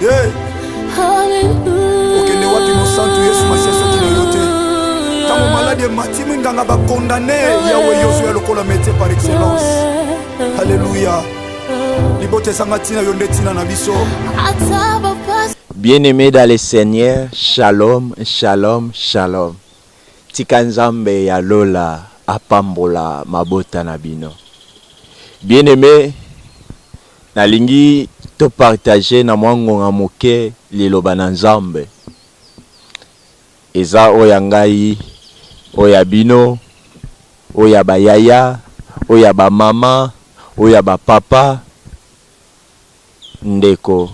Hey! Okende wapi mosantu Yesu Masiya soki na yo te? Ntango maladi emati minganga bakondane Yawe Yesu ya lokola metie par excellence. Haleluya! Libota ezanga ntina yo nde ntina na biso. Bien-aimé dans le Seigneur, shalom, shalom, shalom. Tika Nzambe ya lola apambola mabota na bino. Bien-aimé Nalingi to partager na mwa ngonga moke Liloba na Nzambe. Eza oyo ya ngai, oyo ya bino, oyo ya ba yaya, oyo ya ba mama, oyo ya ba papa, ndeko,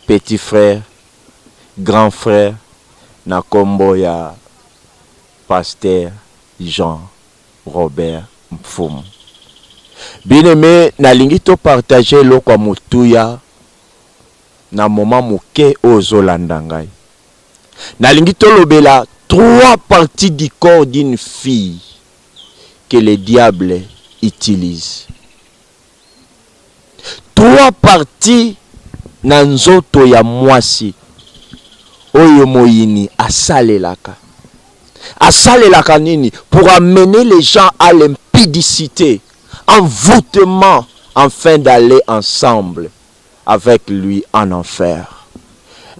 petit frère, grand frère, na kombo ya Pasteur Jean. Robert Mfumu. Bien aime nalingi to partager eloko ya motuya na moment moke oyo ozo landa ngai. Nalingi tolobela trois parties du corps d'une fille que le diable utilise. Trois parties na nzoto ya mwasi oyo moyini asalelaka. Asalelaka nini? Pour amener les gens à l'impudicite, envoutement enfin d'aller ensemble avec lui en enfer.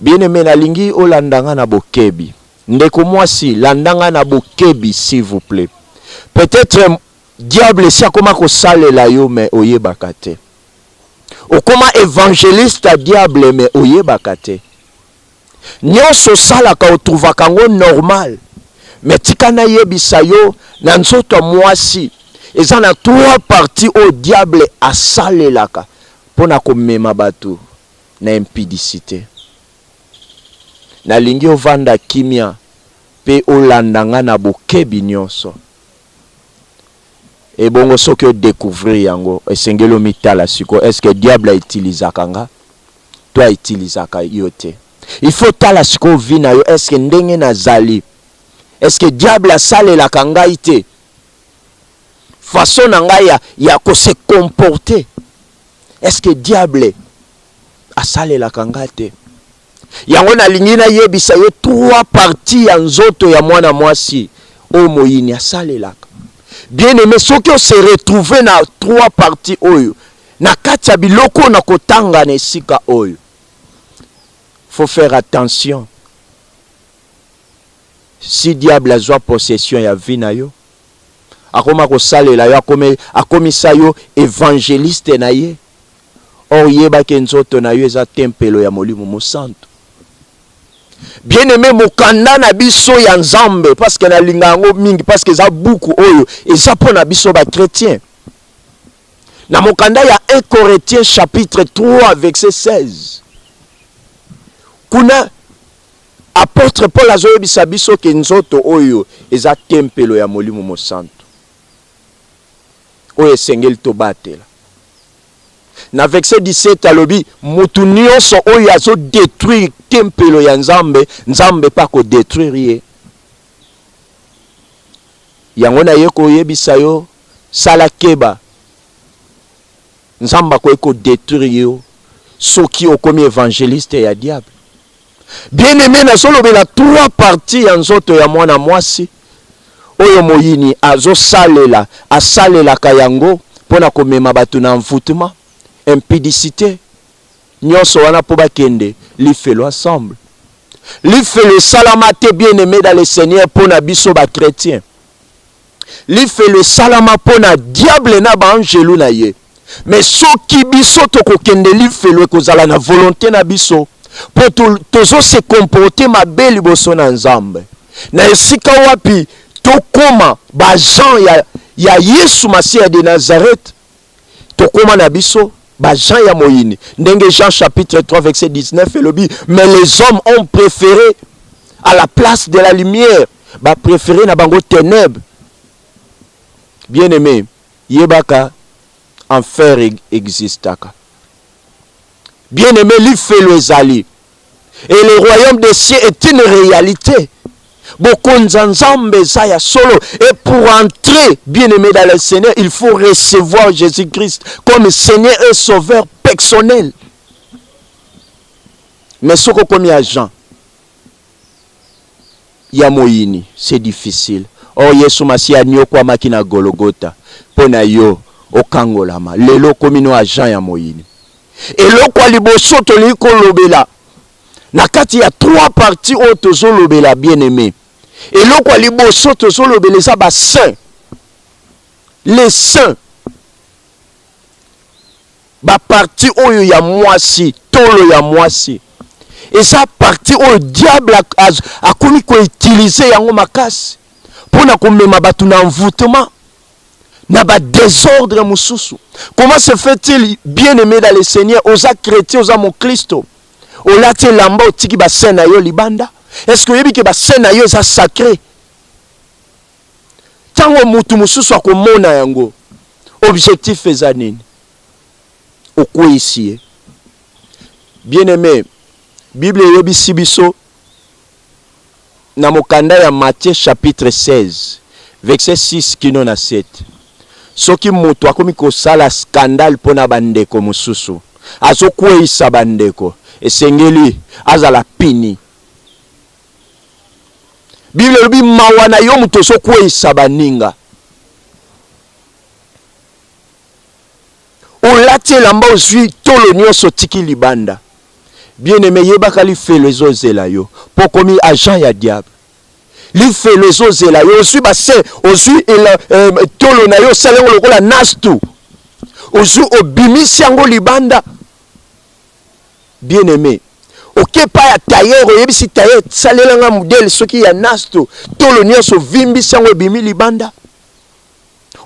Bien-aime nalingi olanda nga na bokebi. Ndeko mwasi, landa nga na bokebi s'il vous plait. Peut-etre Diable esi akoma kosalela yo mais oyebaka te. Okoma evangeliste ya diable mais oyebaka te. Nionso osalaka otrouvaka yango normal mais tika nayebisa yo na nzoto ya muasi eza na trois parties oyo diable asalelaka pona komema batu na impudicite. Nalingi ovanda kimia pe olanda nga na bokebi nionso. Ebongo soki o decouvrir yango esengeli omitala sikoyo est ce que diable a utilisaka nga to a utilisaka yo te? Il faut otala sikoyo vie na yo est ce que ndenge nazali est ce que diable asalelaka ngai te? Façon na ngai ya, ya ko se comporter est ce que diable asalelaka nga te? Yango nalingi nayebisa yo trois parties ya nzoto ya mwana mwasi oyo moyini asalelaka. Bien aime, soki o se retrouver na trois parties oyo na kati ya biloko oyo nakotanga na esika oyo, faut faire attention. Si diable azwa possession ya vie na yo, akoma kosalela yo, akomisa yo evangeliste na ye or yeba ke nzoto na yo eza tempelo ya molimo mosantu bien aime mokanda na biso ya nzambe parce que nalinga yango mingi parce que eza buku oyo eza mpo na biso ba chrétien na mokanda ya 1 corinthiens chapitre 3 verset 16 kuna apôtre paul azoyebisa biso ke nzoto oyo eza tempelo ya molimo mosantu oyo esengeli tobatela. Na verse 17 alobi mutu nionso oyo azo detruire tempelo ya Nzambe, Nzambe mpe ako detruire ye. Yango naye koyebisa yo, sala keba, Nzambe akoki ko detruire yo soki okomi evangeliste ya diable. Bien aime, nazolobela trois parties ya nzoto ya mwana mwasi oyo moyini azosalela, asalelaka yango mpo na komema bato na envoûtement, impudicite, nyonso wana mpo bakende lifelo ensemble. Lifelo esalama te bien aime dans le Seigneur mpo na biso ba chretiens. Lifelo esalama mpo na diable na ba angelu na ye. Me soki biso tokokende lifelo ekozala na volonte na biso mpo tozo se comporte mabe liboso na Nzambe, na esika wapi tokoma ba agent ya, ya Yesu Masiya de Nazareth. Tokoma na biso ba gens ya moyini ndenge Jean chapitre 3 verset 19 elobi mais les hommes ont préféré à la place de la lumière ba préféré na bango ténèbres bien aimé yebaka enfer existaka bien aimé lifelo ezali et le royaume des cieux est une réalité bokonzi ya nzambe eza ya solo et pour entrer bien aimé dans le seigneur il faut recevoir jésus christ comme seigneur et sauveur personnel mais soki okomi agent ya moyini c'est difficile o oh, yesu masiya aniokwamaki na gologota mpo na yo okangolama lelo okomi no agent ya moyini Eloko ya liboso tolingi kolobela na kati ya trois parties oyo tozolobela bien aime, eloko ya liboso tozolobela eza ba saint les saint ba parti oyo ya mwasi tolo ya mwasi eza parti oyo diable akomi koutilize yango makasi mpo na komema bato na envoutema na ba desordre mosusu comment se fait-il bien aimé dans le seigneur oza chrétien oza moklisto olati elamba otiki basin na yo libanda est ce que oyebi ke basin na yo eza sacre ntango motu mosusu akomona yango objectif eza nini okweisi ye bien aimé bible eyebisi biso na mokanda ya Matthieu chapitre 16 verset 6 kino na 7. Soki mutu akomi kosala scandale pona ba ndeko mususu, azo kweyisa ba ndeko, esengeli azala puni. Bible elobi mawa na yo mutu ozo kweyisa ba ninga. olati elamba ozui tolo nionso otiki libanda bien aime yebaka lifelo ezozela yo po komi agent ya diable lifelo ezozela yo ozui base ozui eh, tolo na yo osali yango lokola nastu ozui obimisi yango libanda bien aime oke epai ya tailleur oyebisi tailleur salela nga modele soki ya nasto tolo nyonso ovimbisi yango ebimi libanda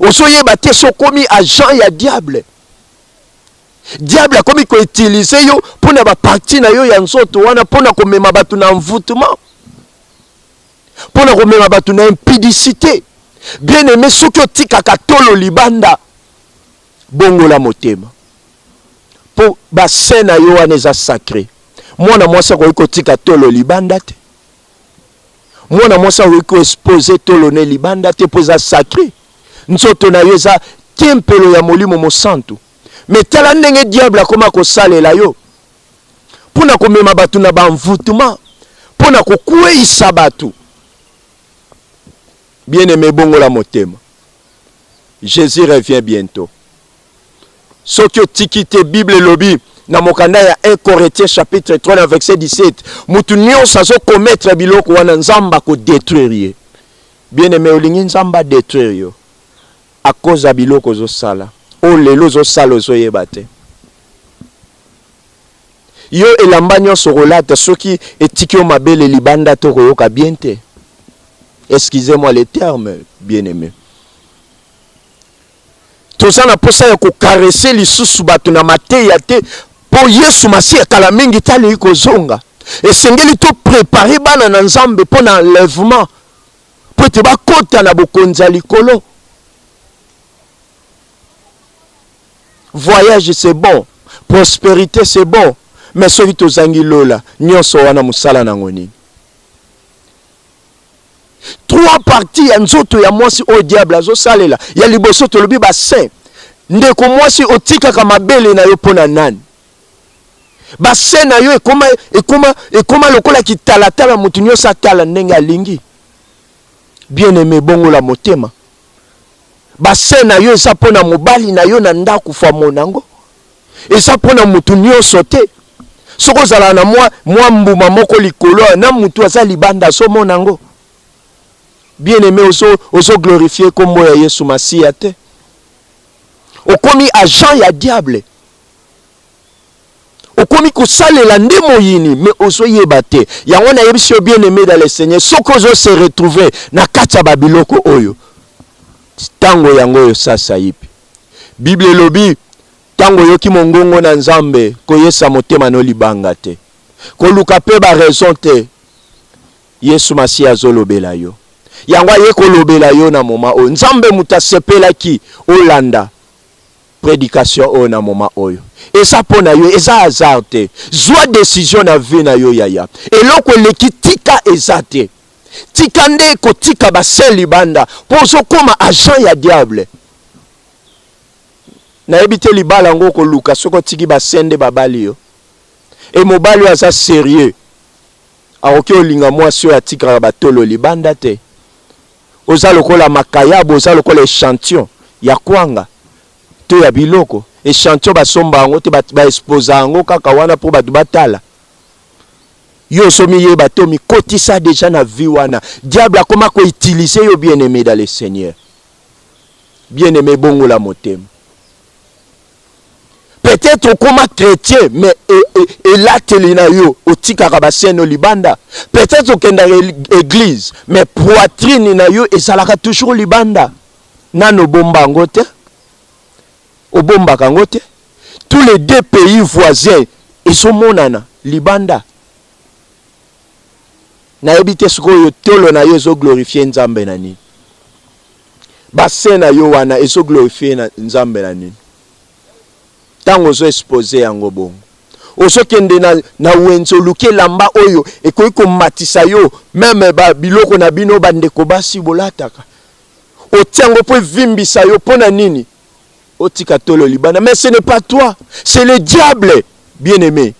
ozo yeba te so komi agent ya diable diable akomi ko utiliser yo pona ba partie na yo ya nzoto wana pona komema bato na envoûtement pona komema bato na impudicité bien aime soki otikaka tolo libanda bongola motema po ba sein na yo wana eza sacre mwana mwasi akoki kotika tolo libanda te mwana mwasi akoki koexpose tolo ne libanda te mpo eza sacre nzoto na yo eza tempelo ya molimo mosantu me tala ndenge diable akoma kosalela yo mpo na komema bato na banvutuma mpo na kokweisa bato bien aime ebongola motema jesus revient bientôt soki otiki te bible elobi na mokanda ya 1 corinthiens chapitre 3 na verset 17 mutu nyonso azokometre biloko wana nzambe akodetruire ye bien aime olingi nzambe adetruire yo akoza biloko ozosala oyo oh, lelo ozosala ozoyeba te yo elamba nyonso okolata soki etiki yo mabele libanda to okoyoka bien te excusez moi le terme bien aime toza na posa ya kokarese lisusu bato na mateya te mpo yesu masiya kala mingi te alingi kozonga esengeli toprepare bana na nzambe mpo na enlèvement mpo ete bakota na bokonzi ya likolo voyage c'est bon prospérité c'est bon mais soki tozangi lola nyonso wana mosala nango nini trois parties ya nzoto ya mwasi oyo diable azosalela ya liboso tolobi basin ndeko mwasi otikaka mabele na yo mpo na nani basin na yo ekoma, ekoma, ekoma lokola kitalatala moto nyonso atala ndenge alingi bien aime bongola motema Bassin na yo eza mpo na mobali na yo na ndako famo na yango eza mpo na motu nyonso te. Soki ozala na mwa, mwa mbuma moko likolo ya na motu aza libanda azomona yango bien aime, ozo, ozo glorifie nkombo ya Yesu Masiya te, okomi agent ya diable. okomi kosalela nde moyini mais ozoyeba te yango nayebisi yo bien aimé dans le seigneur soki ozo se retrouver na kati ya babiloko oyo ntango yango oyo sasa ipi bible elobi ntango oyoki mongongo na nzambe koyesa motema no libanga te koluka mpe baraison te yesu masiya azolobela yo yango aye kolobela yo na moma oyo nzambe moto asepelaki olanda Predication oyo na moment oyo eza mpo na yo, eza hasard te. Zwa decision na vie na yo yaya, eloko eleki tika eza te. Tika nde kotika ba sel libanda mpo ozokoma agent ya diable. Nayebi te libala yango okoluka soki otiki ba sel nde babali yo. Et mobali oyo aza serieux. Akoki olinga mwasi oyo atikaka ba tolo libanda te? Oza lokola makayabu, oza lokola echantillon ya kwanga to ya biloko. Echantillon basomba yango te, ba exposa yango kaka wana po batu batala. Yo ozo miyeba te, omikotisa deja na vie wana. Diable akoma ko utiliser yo bien aime dans le seigneur. Bien aime bongola motema. peut-être okoma chrétien mais elateli na yo otikaka baseno libanda peut-être okendaka église mais poitrine na yo ezalaka toujours libanda nano obomba yango te obombaka yango te tous les deux pays voisins ezomonana libanda nayebi te sikoyo tolo na yo ezoglorifie nzambe na nini Ba seins na yo wana ezo glorifier na Nzambe na nini? Tango ozo expose yango bongo ozokende na, na wenze oluki elamba oyo ekoki komatisa yo meme ba biloko na bino bandeko basi bolataka otia yango mpo evimbisa yo mpo na nini otika tolo libanda mais ce n'est pas toi c'est le diable bien aimé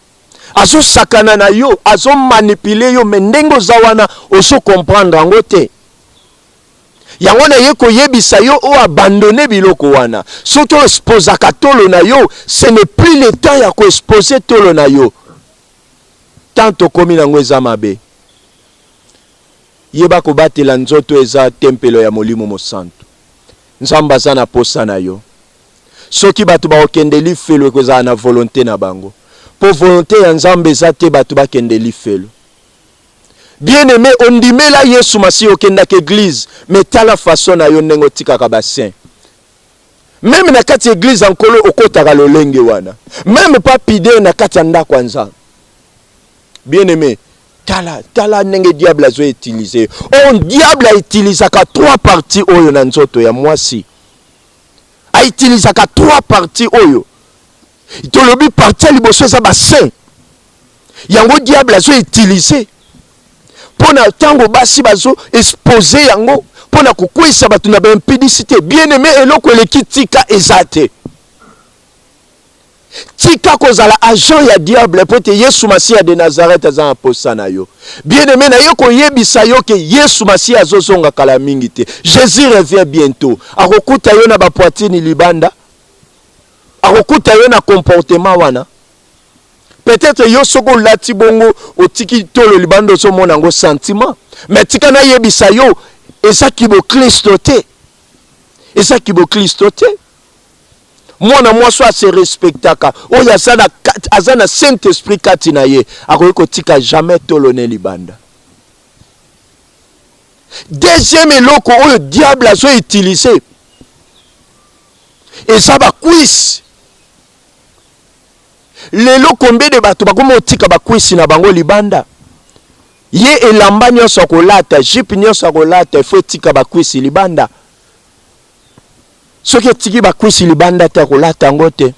azosakana na yo azomanipule yo me ndenge oza wana ozo comprendre yango te Yango na ye koyebisa yo o abandonner biloko wana. Soki o exposaka tolo na yo, ce n'est plus le temps ya ko exposer tolo na yo. Temps tokomi nango eza mabe. Yeba kobatela nzoto eza tempelo ya Molimo Mosantu. Nzambe aza na posa na yo. Soki bato bakokende lifelo ekozala na volonte na bango. Po volonte ya Nzambe eza te bato bakende lifelo. Bien aime ondimela yesu masiya okendaka eglise mais tala façon nayo ndenge otikaka ba saint meme na kati ya eglise ya nkolo okotaka lolenge wana meme pa pide na kati ya ndako ya nzambe bien aime tala tala ndenge diable azo utiliser yo oh, on diable autilisaka trois parties oyo na nzoto ya mwasi autilisaka trois parties oyo tolobi parti ya liboso eza ba saint yango diable azo utilise mpo na ntango basi bazo expose yango mpo na kokweisa bato na baimpudicité bien aime eloko eleki tika eza te tika kozala agent ya diable mpo ete yesu masiya de nazareth aza na mposa na yo bien aime naye koyebisa yo ke yesu masiya azozonga kala mingi te jésus revient bientôt akokuta yo na bapoitini libanda akokuta yo na comportement wana peut-être yo soki olati bongo otiki tolo libanda ozomona yango sentiment mais tika nayebisa yo eza kiboklisto te eza kiboklisto te mwana mwasi oyo ase respectaka oyo aza na, aza na saint esprit kati na ye akoki kotika jamais tolo ne libanda deuxième eloko oyo diable azo utiliser eza ba cuisse lelo combien de bato bakomi otika ba cuisse na bango libanda ye elamba nyonso ya kolata jipe nyonso ya kolata ifo etika ba cuisse libanda soki etiki ba cuisse libanda te akolata yango te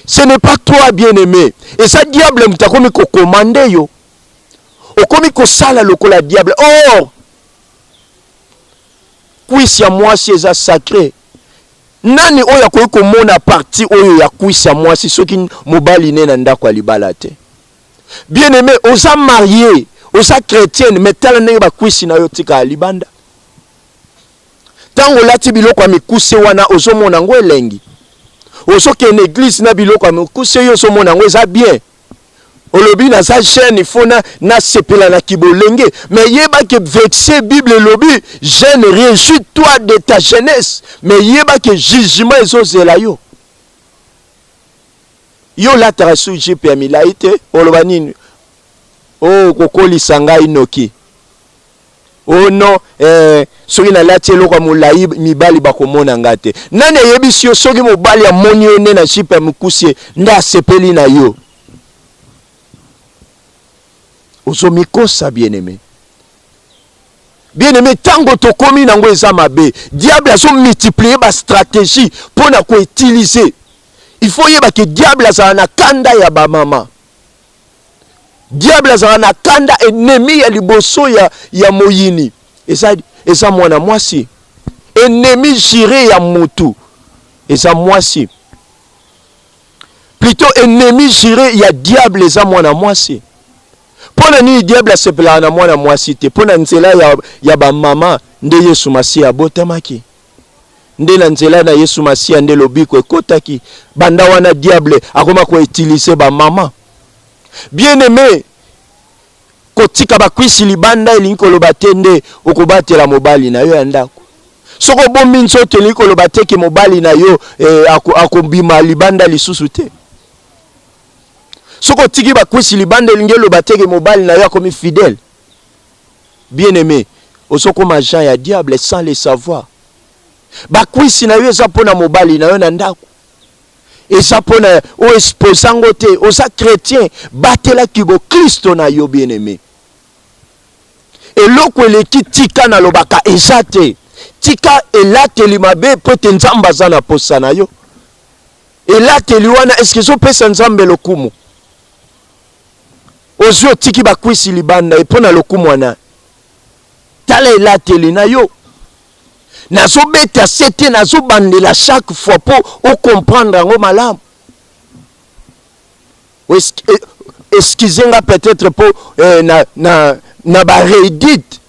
ce n'est pas toi bien aimé eza diable moto akomi kokomande yo okomi kosala lokola diable or kwisi ya mwasi eza sacre Nani oyo akoki komona partie oyo ya cuisse ya mwasi soki mobali ne na ndako ya libala te? Bien aime, oza marie, oza chretienne, mais tala ndenge ba cuisse na yo tika libanda. Tango olati biloko ya mikuse wana ozomona ngo elengi. Ozokende eglise na biloko ya mikuse yo ozomona ngo eza bien. olobi naza jeune il faut na nasepela na kibolenge mais yeba ke verse bible elobi jeune réjouis toi de ta jeunesse mais yeba ke jugement ezozela yo yo olataka su jipe ya milai te oloba nini o oh, kokolisa ngai noki Oh non, eh, soki nalati eloko ya molai mibali bakomona nga te. Nani ayebisi yo soki mobali amoni yo nde na jipe ya mikusie nde asepeli na yo? Ozomikosa bien-aime. Bien-aime, ntango tokomi nango eza mabe. Diable azo multiplier ba strategie mpo na ko utiliser. Il faut yeba ke diable azala na kanda ya ba mama. Diable azala na kanda ennemi ya liboso ya, ya moyini eza, eza mwana mwasi. Ennemi jire ya mutu eza mwasi, plutot ennemi jire ya diable eza mwana mwasi. Mpo na nini diable asepelaka na mwana mwasi te? Mpo na nzela ya, ya bamama nde Yesu Masiya abotamaki. nde na nzela na Yesu Masiya nde lobiko ekotaki. Banda wana diable akoma ko utiliser ba mama bien aime. Kotika bakwisi libanda elingi koloba te nde okobatela mobali na yo ya ndako. Soki obombi nzoto elingi koloba te ke mobali na yo eh, akobima libanda lisusu te. Soki otiki bakwisi libanda elingi eloba te ke mobali na yo akomi fidèle. bien aime ozo koma agent ya diable sans le savoir ba kwisi na yo eza pona mobali na yo na ndaku eza pona o exposa ngo te oza chretien batela kibo Christo na yo bien aime eloko eleki tika na lobaka eza te tika elateli mabe po ete nzambe aza na posa na yo elateli wana eske ezopesa nzambe lokumu ozwi otiki bakwisi libanda epo na lokumu wana tala elateli na yo nazobeta se te nazobandela chaque fois mpo ocomprendre yango malamu eh, excuse nga peut-être mpo eh, na, na, na baredite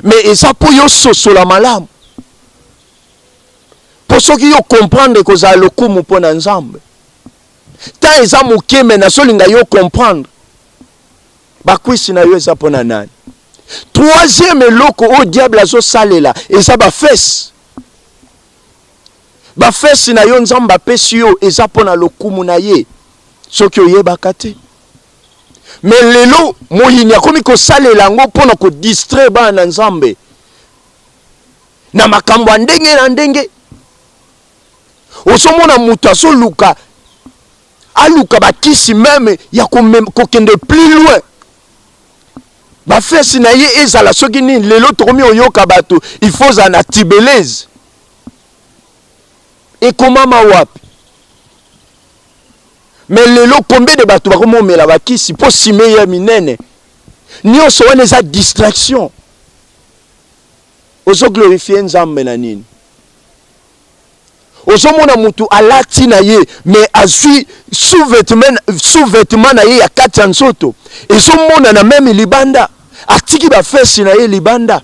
mais eza mpo yo ososola malamu mpo soki yo comprendre ekozala lokumu mpo na nzambe temps eza moke me nazolinga yo comprendre bakwisi na yo eza mpo na nani troisième eloko oyo diable azosalela eza bafese bafese na yo nzambe apesi yo eza mpo na lokumu na ye soki oyebaka te me lelo moyini akomi kosalela yango mpo na kodistraire bana na nzambe na makambo ya ndenge na ndenge ozomona moto azoluka aluka bakisi meme ya kokende plus loin bafesi na ye ezala soki nini lelo tokomi oyoka bato il faut ozala na tibelese ekomama wapi me lelo combien de bato bakomi omela bakisi mpo sime ya minene nyonso wana eza distraction Ozo glorifier nzambe na nini? Ozo mona mutu alati na ye mais azui sous-vetement sous-vetement na ye ya kati ya nzoto ezo mona na meme libanda atiki ba fesse na ye libanda.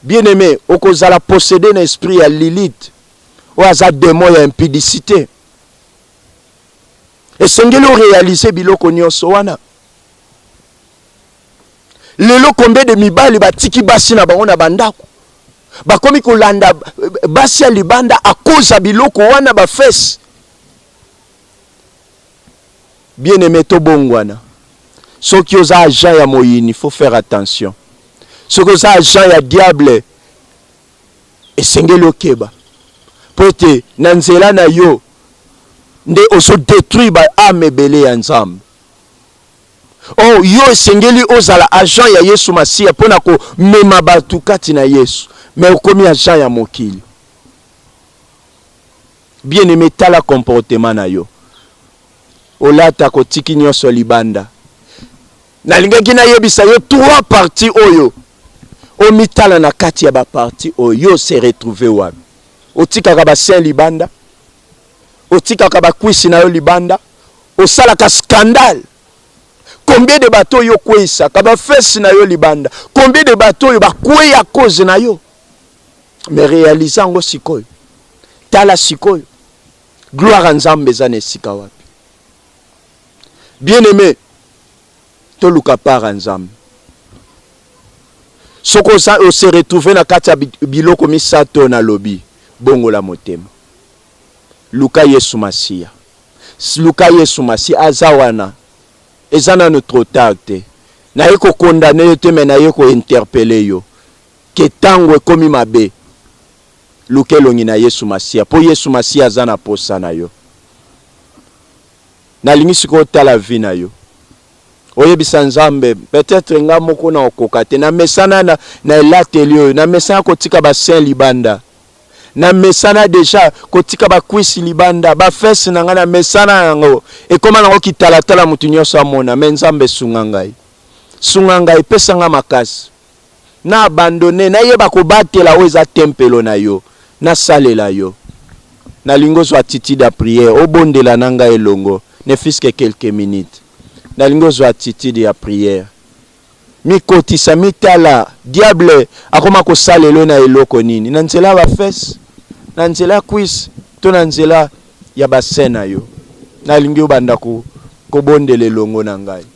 Bien aime okozala possede na esprit ya Lilith oyo aza demon ya impudicite. Esengeli o realiser biloko nionso wana. lelo combien de mibali batiki basi na bango na bandako bakomi kolanda eh, basi ya libanda akoza biloko wana bafese bien aime tobongwana soki oza agent ya moyini faut faire attention soki oza agent ya diable esengeli okeba mpo ete na nzela na yo nde ozo detruire ba ame ebele ya nzambe Oh, yo esengeli ozala agent ya Yesu Masiya mpo na komema bato kati na Yesu, mais okomi agent ya mokili. Bien aime, tala comportement na yo, olata kotiki nyonso libanda. Nalingaki nayebisa yo trois parties oyo omitala na kati ya ba parties oyo, yo se retrouver wapi? Otikaka ba saints libanda? otikaka ba kwisi na yo libanda osalaka scandale combien de bato oyo okweyisaka ba fesi na yo libanda combien de bato oyo bakweyi a cause na yo me realise yango sikoyo tala sikoyo gloire ya nzambe eza na esika wapi bien aime Toluka part ya Nzambe. Soki oza o se retrouver na kati ya biloko misato oyo nalobi, bongola motema. Luka Yesu Masiya. Luka Yesu Masiya. Aza wana. Eza nanu trop tard te. Naye ko condamner yo te mais naye ko interpeller yo que tango ekomi mabe. Luka elongi na Yesu Masiya po Yesu Masiya aza na posa na yo. Nalingi sikoyo otala vie na yo oyebisa nzambe peut-etre nga moko na okoka te na mesana na, na elateli oyo na mesana kotika basin libanda na mesana deja kotika bakwisi libanda bafese na ngai na mesana yango ekoma nango kitalatala moto nyonso amona me nzambe sunga ngai sunga ngai pesa ngai makasi na abandonner, na yeba ko batela oyo eza tempelo na yo, na salela yo. Na lingi ozwa attitude ya prière, o bondela na ngai elongo, ne fut-ce que quelques minutes. Na lingi ozwa attitude ya prière. Mi kotisa, mi tala, diable akoma ko salela yo na eloko nini? Na nzela ya ba fesses? Na nzela ya cuisse? To na nzela ya ba seins na yo? Na lingi obanda ko, ko bondela elongo na ngai.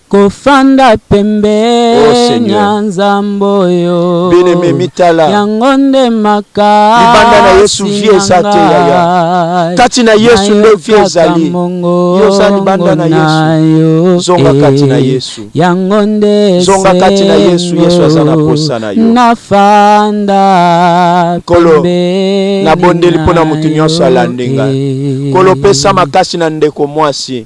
Kofanda pembeni ya Nzambe oyo Bien-aimé mitala yango nde makasi libanda na Yesu vie eza te yaya kati na Yesu nde vie ezali yo oza libanda na Yesu zonga kati na Yesu yango nde zonga kati na Yesu Yesu aza na posa na yo nafanda kolo nabondeli mpo na moto nyonso alandi ngai kolo pesa makasi na ndeko mwasi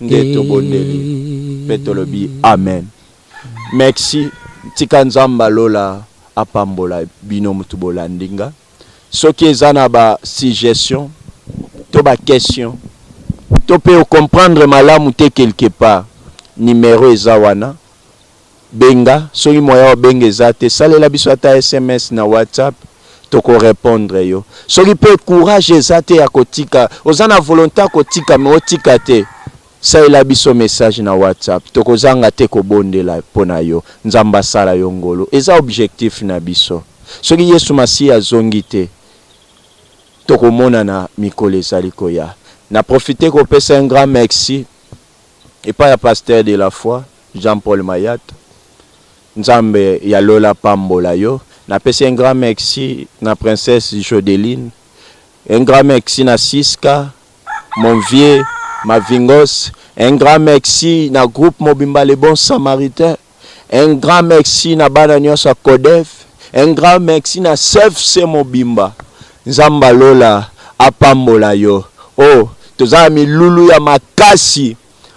nde tobondeli mpe tolobi amen. Merci tika nzambe ya lola apambola bino mutu bolandi nga soki eza na ba suggestion to ba question to mpe ocomprendre malamu te quelque part numero eza wana Benga, soki moyen o benga eza te, salela biso ata sms na WhatsApp, toko repondre yo. Soki pe courage eza te ya ko tika, oza na volonte ya ko tika mais o tika te, salela biso message na WhatsApp, toko zanga te ko bondela pona yo, Nzambe a sala yo ngolu. Eza objectif na biso. Soki Yesu Masiya a zongi te, toko monana mikolo ezali koya. Na profiter ko pesa un grand merci. epai ya pasteur de la foi Jean Paul Mayat nzambe ya lola apambola yo napesi un grand merci na princesse Jodeline un grand merci na Siska mon vieux Mavingos un grand merci na groupe mobimba les bons samaritains Un grand merci na bana nionso ya codef, un grand merci na cfc mobimba, Nzambe ya lola apambola yo oh toza na milulu ya makasi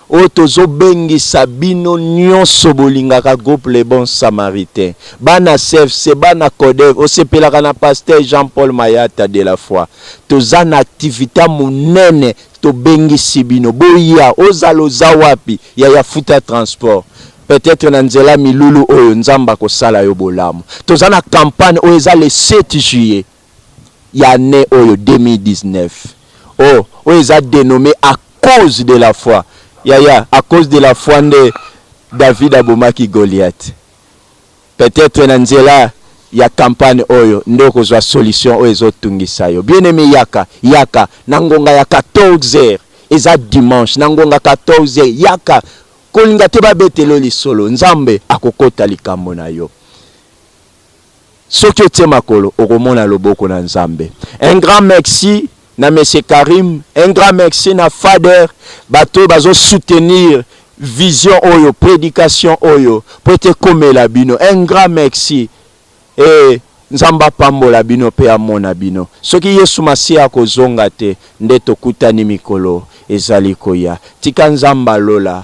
oyo tozo bengisa bino nionso bolingaka groupe le bon samaritain, bana cfc, bana codef, osepelaka na pasteur Jean Paul Mayata de la foi, toza na activite ya munene Tobengisi bino boya ozala oza wapi yaya futa transport peut etre na nzela milulu oyo nzambe akosala yo bolamu toza na campagne oyo eza le 7 juillet ya annee oyo 2019 oh oyo eza denomme a cause de la foi yaya a cause de la foi nde david abomaki goliath Peut etre na nzela ya campagne oyo nde okozua solution oyo ezo tungisa yo. Bien aime yaka, yaka na ngonga ya 14 heures, eza dimanche na ngonga 14 heures yaka, kolinga te babetela yo lisolo, Nzambe akokota likambo na yo. Soki otie makolo okomona loboko na Nzambe. Un grand merci na monsieur Karim un grand merci na Fader batu oyo bazo soutenir vision oyo predication oyo po ete ekomela bino un grand merci et Nzambe apambola bino pe amona bino soki Yesu masiya akozonga te nde tokutani mikolo ezali koya tika Nzambe ya lola